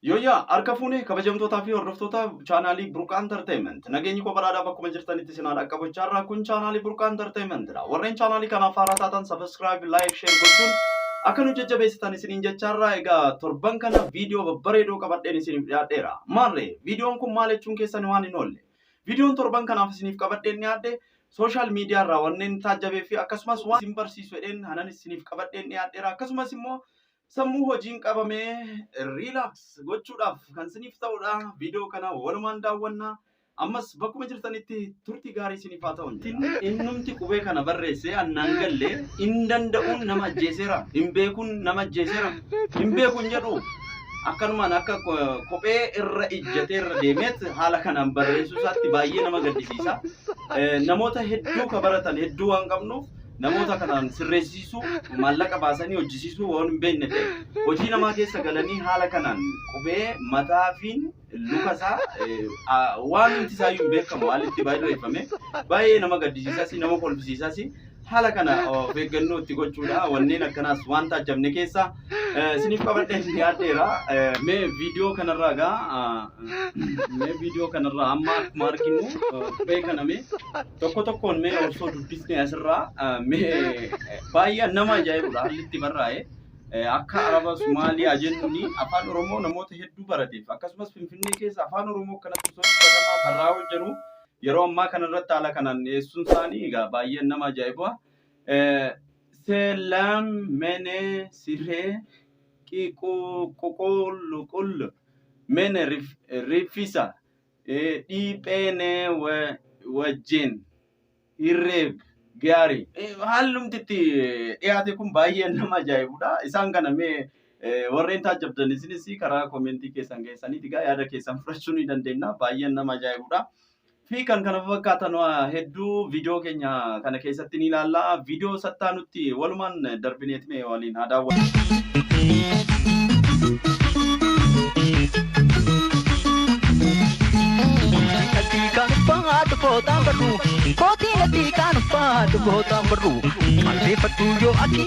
Yooyyaa! Harka fuune kabajamtootaa fi hordoftoota chaanaalii Burqaa Entertainment. Nageenyi koo badhaadhaa bakkuma jirtanitti isin haa dhaqqabu jechaa irraa kun chaanaalii Burqaa Entertainment dha. Warreen chaanaalii kanaaf haaraa taatan subscribe, like, share gochuun akka nu jajjabeessitan isiniin jechaa irraa egaa torban kana viidiyoo babbareedoo qabadheen isiniif dhiyaadheera. Maarree viidiyoon kun maal jechuun keessan waan hin oolle. Viidiyoon torban kanaaf isiniif qabadheen dhiyaadhe sooshaal miidiyaa irraa wanneen taajjabee fi akkasumas waan isin barsiisu jedheen hanan isiniif qabadheen dhiyaadheera. Akkasumas immoo Sammuu hojiin qabame relax gochuudhaaf kan isiniif ta'udha. Viidiyoo kana walumaan daawwanna. Ammas bakkuma jirtanitti turtii gaarii isiniif haa ta'u. Innumti qubee kana barreessee annaan galle hin danda'uun nama ajjeeseera. Hin beekuun nama ajjeeseera. Hin beekuun jedhu akkanumaan akka kophee irra ijjatee irra deemeet haala kanaan barreessuu isaatti baay'ee nama gaddisiisa. Namoota hedduu ka baratan hedduu waan qabnuuf namoota kanaan sirreessisuu, maallaqa baasanii hojjisiisuu waan hin beekne ta'e hojii namaa keessa galanii haala kanaan qubee mataa fi luka isaa eh, a- waan hundi isaa iyyuu hin beekamu haalli itti barreeffame baay'ee nama gaddisiisas nama kolfisiisas haala kana of eeggannoo itti gochuudha wanneen akkanaas waan taajjabne keessaa Isiniif qabadhee dhiyaadheera. Mee viidiyoo kanarraa gaa mee viidiyoo kanarraa amma akkuma arginu qubee kana mee tokko tokkoon mee osoo dubbisne asirraa mee baay'ee nama ajaa'ibudha haalli itti barraa'e. Akka Araba Somaaliyaa jennuun afaan Oromoo namoota hedduu barateef akkasumas Finfinnee keessa afaan Oromoo kanatti osoo dubbatamaa barraa'uu jiru yeroo ammaa kanarratti haala kanaan dhiyeessuun isaanii egaa baay'ee nama ajaa'iba. Selam mene sire qi qu qu qul qul mene rif rifisa e di pene wa wajjin hirreeb gaarii Eh, haalumti itti dhiyaate kun baay'ee nama ajaa'ibudha isaan kana mee eh, warreen taajjabdan isinis karaa komentii keessan keessaniiti gaa yaada keessan fudhachuu ni dandeenya baay'ee nama ajaa'ibudha fi kan kana fakkaatan waa hedduu viidiyoo keenya kana keessatti ni ilaalla. Viidiyoo sattaa nutti walumaan darbineet mee waliin haa daawwannu. Natti kan uffatu footaan barru Kootii natti kan uffatu footaan barru Malbeeffadhu yoo ati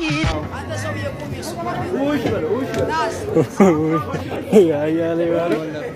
Ay, ay, ay, ay, ay.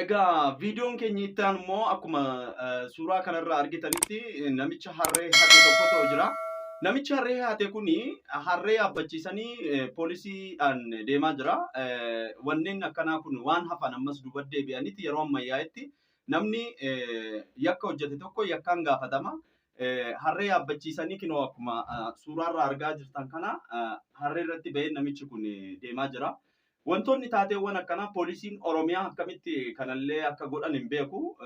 Egaa viidiyoon keenya itti aanu immoo akkuma suuraa kanarraa argitanitti namicha harree hate tokkotu jira. Namichi harree hate kun harree yaabbachiisanii poolisiidhaan deemaa jira. Wanneen akkanaa kun waan hafan ammas duuba deebi'anitti yeroo ammayyaa'etti namni yakka hojjete tokko yakkaan gaafatama. Harree yaabbachiisanii kinoo akkuma suuraarraa argaa jirtan kana harree irratti ba'ee namichi kun deemaa jira. Wantoonni taateewwan akkanaa poolisiin Oromiyaa akkamitti kanallee akka godhan hin beeku.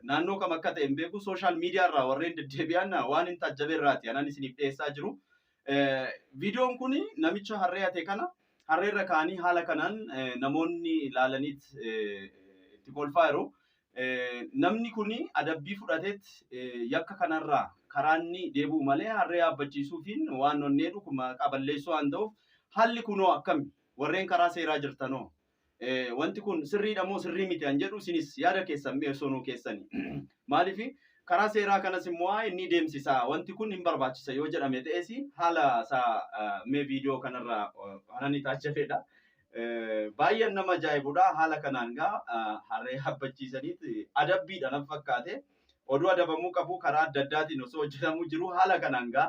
Naannoo kam akka ta'e hin beeku. Sooshaal miidiyaa irraa warreen deddeebi'an waanin taajjabe irraati anan isiniif dhiyeessaa jiru. Viidiyoon kun namicha harree hate kana harreerra kaa'anii haala kanaan namoonni ilaalaniit itti kolfaa jiru. Namni kun adabbii fudhateet yakka kanarraa karaa inni deebi'u malee harree yaabbachiisuufiin waan onneedhu maqaa balleessuu waan ta'uuf haalli kunoo akkami? Warreen karaa seeraa jirtanoo wanti kun sirriidha moo sirrii miti an jedhu isinis yaada keessan mee osoo nuu keessani. Maaliif karaa seeraa kanas immoo haa inni deemsisa wanti kun hin barbaachisa yoo jedhame ta'es haala isaa mee viidiyoo kanarraa hanani taachafeedha. Baay'een nama ajaa'ibudha haala kanaan gaa harree habbachiisaniit adabbiidha nan fakkaate. Oduu adabamuu qabu karaa adda addaatiin osoo hojjetamuu jiru haala kanaan gaa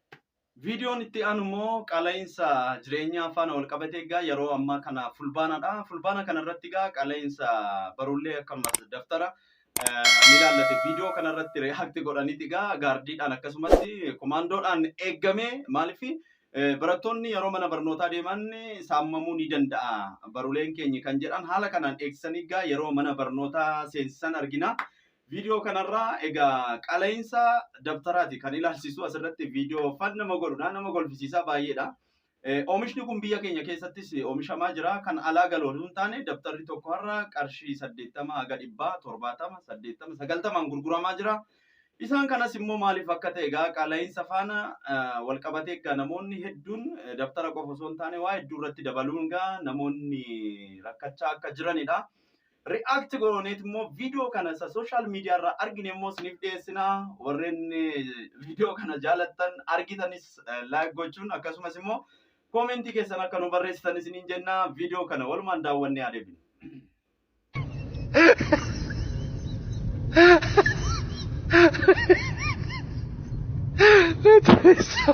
Viidiyoon itti aanu immoo qaala'insa jireenyaa faana wal qabatee egaa yeroo ammaa kana fulbaanadha. Fulbaana kana irratti egaa qaala'insa barullee akkasumas daftara ni ilaallate viidiyoo kana irratti react godhaniti egaa gaardiidhaan akkasumas komaandoodhaan eeggamee maaliif barattoonni yeroo mana barnootaa deeman saamamuu ni danda'a baruleen keenya kan jedhan haala kanaan eegsisanii egaa yeroo mana barnootaa seensisan argina. Viidiyoo kanarraa egaa qala'iinsa dabtaraati kan ilaalchisu asirratti viidiyoo fan nama godhudha nama golfisiisaa baay'eedha. Oomishni kun biyya keenya keessattis oomishamaa jira. Kan alaa galu osoo hin taane dabtarri tokko har'a qarshii saddeettama haga dhibbaa torbaatama saddeettama sagaltamaan gurguramaa jira. Isaan kanas immoo maaliif akka ta'e egaa qala'iinsa faana wal qabatee egaa namoonni hedduun dabtara qofa osoo hin taane waa hedduu irratti dabaluun egaa namoonni rakkachaa akka jiranidha. react gooneet immoo viidiyoo kana isa social media irraa argine immoo isiniif dhiyeessina. Warreen viidiyoo kana jaalattan argitanis like gochuun akkasumas immoo koomentii keessan akka nu barreessitan isiniin jenna. Viidiyoo kana walumaan daawwannee haa deebinu. That is so...